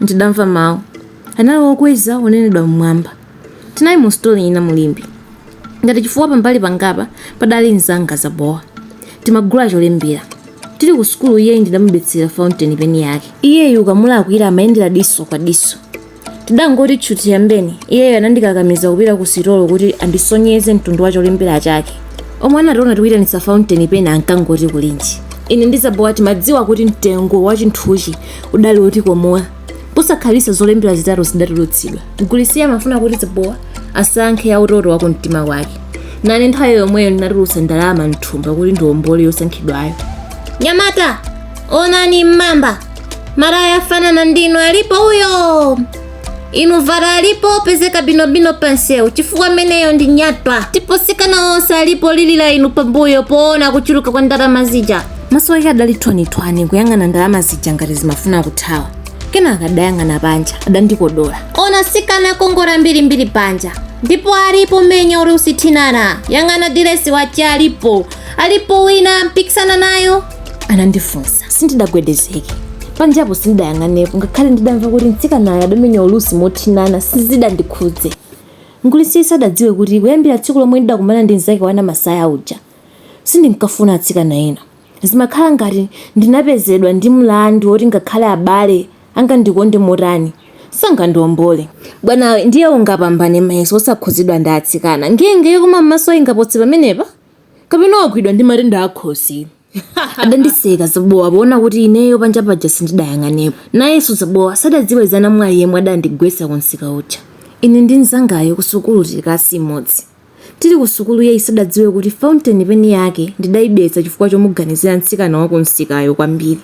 Ndidamva mawu. Anali okweza onenedwa m'mwamba. Tinali mu sitolo ina mu Limbe. Ngati chifukwa pambali pangapa padali mnzanga Zabowa. Timagula cholembera. Tili ku sukulu iyeyu ndidamubetsera fountain pen yake. Iyeyu ukamulakwira amayendera diso kwa diso. Tidangoti tchuthi yambeni, iyeyu anandikakamiza kupita ku sitolo kuti andisonyeze mtundu wa cholembera chake. Omwe anationa tikuitanitsa fountain pen ankangoti kulinji. Ine ndi Zabowa timadziwa kuti mtengo wa chinthuchi udali wotikomola posakhalitsa zolembera zitatu zidatulutsidwa mgulitsiyu amafuna kuti zabowa asankhe ya utoto wa kumtima kwake nane nthawi yomweyo ndinatulutsa ndalama mthumba kuti ndiombole yosankhidwayo nyamata onani mmamba maraya afanana ndinu alipo uyo inu vara alipo pezeka binobino pansewu chifukwa meneyo ndi nyatwa ndipo sikana onse alipo lilira inu pambuyo poona kuchuluka kwa ndalama zija maso ake adali thwanithwani kuyang'ana ndalama zija ngati zimafuna kuthawa kenaka adayang'ana panja adandikodola ona sikana kongola mbirimbiri panja ndipo alipo menya ulusi thinana yang'ana diresi wache alipo alipo wina mpikisana nayo anandifunsa sindidagwedezeke panjapo sindidayang'anepo ngakhale ndidamva kuti mtsikanayo adamenya ulusi mothinana sizidandikhudze mgulitsiyu sadadziwe kuti kuyambira tsiku lomwe ndidakumana ndi mzake wa namasaya uja sindinkafuna atsikana ena zimakhala ngati ndinapezedwa ndi mlandu woti ngakhale abale angandikonde motani sangandiwombole bwanawe ndiye ungapambane mayeso osakhudzidwa ndi atsikana ngenge yokoma m'maso ingapose pamenepa kapena wagwidwa ndi matenda akhosi adandiseka zabowa poona kuti ineyo panja paja sindidayang'anepo nayenso zabowa sadadziwe za namwali yemwe adandigwetsa kumsika uja ine ndi mnzangayo kusukulu tili kalasi imodzi tili kusukulu iyeyu sadadziwe kuti fountain pen yake ndidaibetsa chifukwa chomuganizira mtsikana wa kumsikayo kwambiri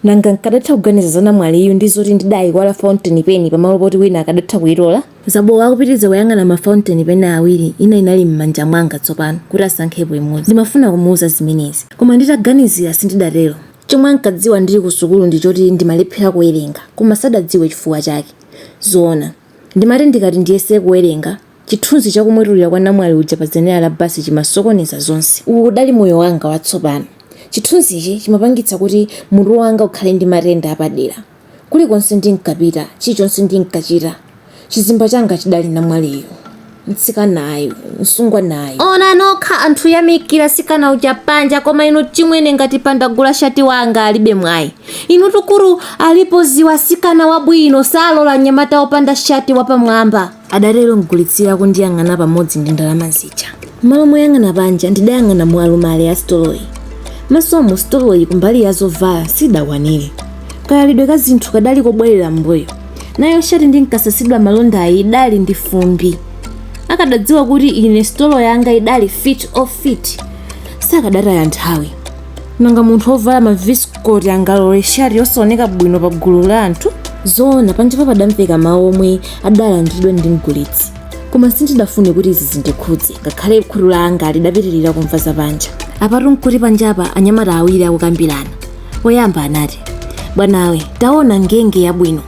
nanga nkadatha kuganiza za namwaliyu ndi zoti ndidaiwala fountain pen pamalo poti wina akadatha kuitola Zabowa akupitiriza kuyang'ana ma fountain pen awiri, ina inali m'manja mwanga tsopano, kuti asankhepo imodzi. Ndimafuna kumuuza zimenezi. Koma nditaganizira, sindidatero. Chomwe ankadziwa ndili kusukulu ndi choti ndimalephera kuwerenga, koma sadadziwe chifukwa chake. Zoona, ndimati ndikati ndiyese kuwerenga, chithunzi cha kumwetulira kwa namwali uja pa zenera la basi chimasokoneza zonse. Uwu udali moyo wanga watsopano. Chithunzichi chimapangitsa kuti mutu wanga ukhale ndi matenda apadera. Kulikonse ndinkapita, chilichonse ndinkachita, chizimba changa chidali namwaliyu, mtsikanayu, msungwanayu. Ona nokha anthu yamikira sikana uja panja koma inu chimwene ngati panda gula shati wanga alibe mwayi inutu kuru alipo ziwa sikana wabwino salora nyamata opanda shati wapamwamba. adatero mgulitsira akundiyang'ana pamodzi ndi ndalama zija. M'malo moyang'ana panja ndidayang'ana mu alumale a sitoloyi. Maso mu sitoloyi kumbali ya zovala sidakwanire. Kayalidwe ka zinthu kadali kobwerera m'mbuyo. Nayo shati ndinkasasidwa malondayi idali ndi fumbi. Akadadziwa kuti ine sitolo yanga idali fit of fit sakadataya nthawi. nanga munthu wovala mavisikoti angalole shati yosaoneka bwino pa gulu la anthu zoona panjapa padamveka mawu omwe adalandidwa ndi mgulitsi koma sindidafune kuti izi zindikhudze ngakhale khutu langa lidapitirira kumva za panja apatu nkuti panjapa anyamata awiri akukambirana woyamba anati bwanawe taona ngenge yabwino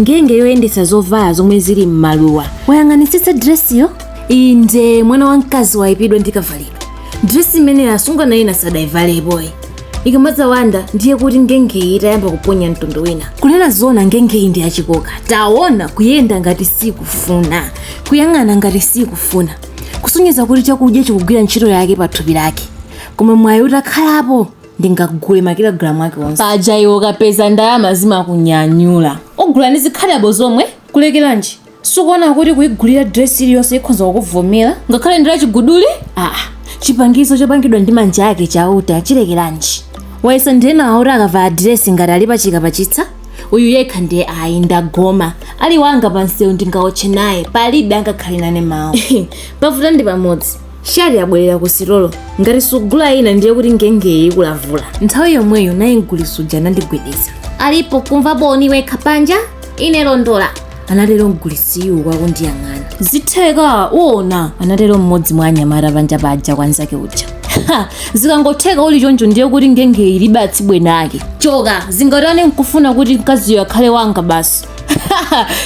ngenge yoyendetsa zovala zomwe zili m'maluwa wayang'anitsitsa diresiyo inde mwana wamkazi wayipidwa ndi kavalidwe dresi imene asungwana ena sadayivalepo ikamadza wanda ndiye kuti ngengeyi itayamba kuponya mtundu wina kunena zoona ngengeyi ndi yachikoka taona kuyenda ngati sikufuna kuyang'ana ngati sikufuna kusonyeza kuti chakudya chikugwira ntchito yake pa thupi lake koma mwayi utakhalapo ndingagule makilogalamu ake onse paja iwe ukapeza ndalama zimakunyanyula ogula ndi zikhadabo zomwe kulekeranji sukuona kuti kuigulira dress iliyonse ikhonza kukuvomera ngakhale ndi lachiguduli aa chipangizo chopangidwa ndi manja ake chauta chilekeranji wayesa ndi enawa oti akavala diresi ngati ali pachika pachitsa uyu yekha ndiye ayi ndagoma ali wanga pansewu ndingaotche naye palibe angakhale nane mawu pavuta ndi pamodzi shati yabwerera ku sitolo ngati sugula ina ndiye kuti ngengeyi ikulavula nthawi yomweyo naye mgulitsi uja anandigwedeza alipo kumva boni wekha panja ine londola anatero mgulitsiyu uku akundiyang'ana zitheka uona anatero mmodzi mwa anyamata panja paja kwa nzake uja zikangotheka uli choncho ndiye kuti ngengeyi ilibe atsibweni ake choka zingatani nkufuna kuti mkaziyo akhale wanga basi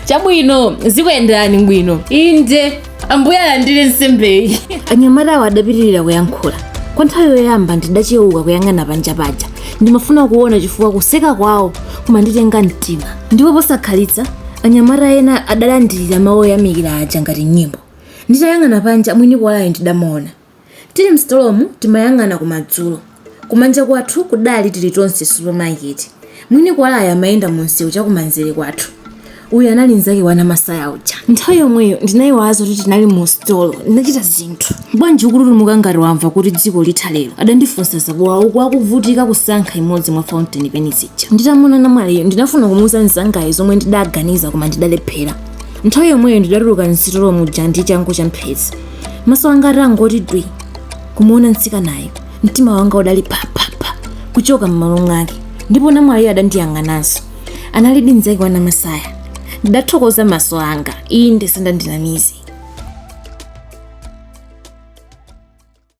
chabwino zikuyenderani bwino inde ambuye alandire nsembeyi anyamatawo adapitirira kuyankhula kwa nthawi yoyamba ndidachewuka kuyang'ana panja paja ndimafuna kuona chifukwa kuseka kwawo kumanditenga mtima ndipo posakhalitsa anyamata ena adalandirira mawu oyamikira aja ngati nyimbo nditayang'ana panja mwini kuwalayo ndidamuona Tili m'sitolomu timayang'ana kumadzulo. Kumanja kwathu kudali Tilitonse supamaketi. Mwini kuwalayo amayenda mumsewu chakumanzere kwathu. Uyu anali mnzake wa Namasaya uja. Nthawi yomweyo ndinaiwala zakuti tinali musitolo. Ndinachita zinthu. Bwanji ukututumuka ngati wamva kuti dziko litha lero? adandifunsa Zakuwa uku akuvutika kusankha imodzi mwa fountain pen zija. Nditamuona namwaliyo ndinafuna kumuuza mnzangayo zomwe ndidaganiza koma ndidalephera. Nthawi yomweyo ndidatuluka m'sitolo muja ndi changu champhezi. maso anga atangoti dwi kumuona mtsikanayo mtima wanga udali phaphapha kuchoka m'malo mwake ndipo namwaliyo adandiyang'ananso analidi nzake wa namasaya ndidathokoza maso anga inde sindandinamize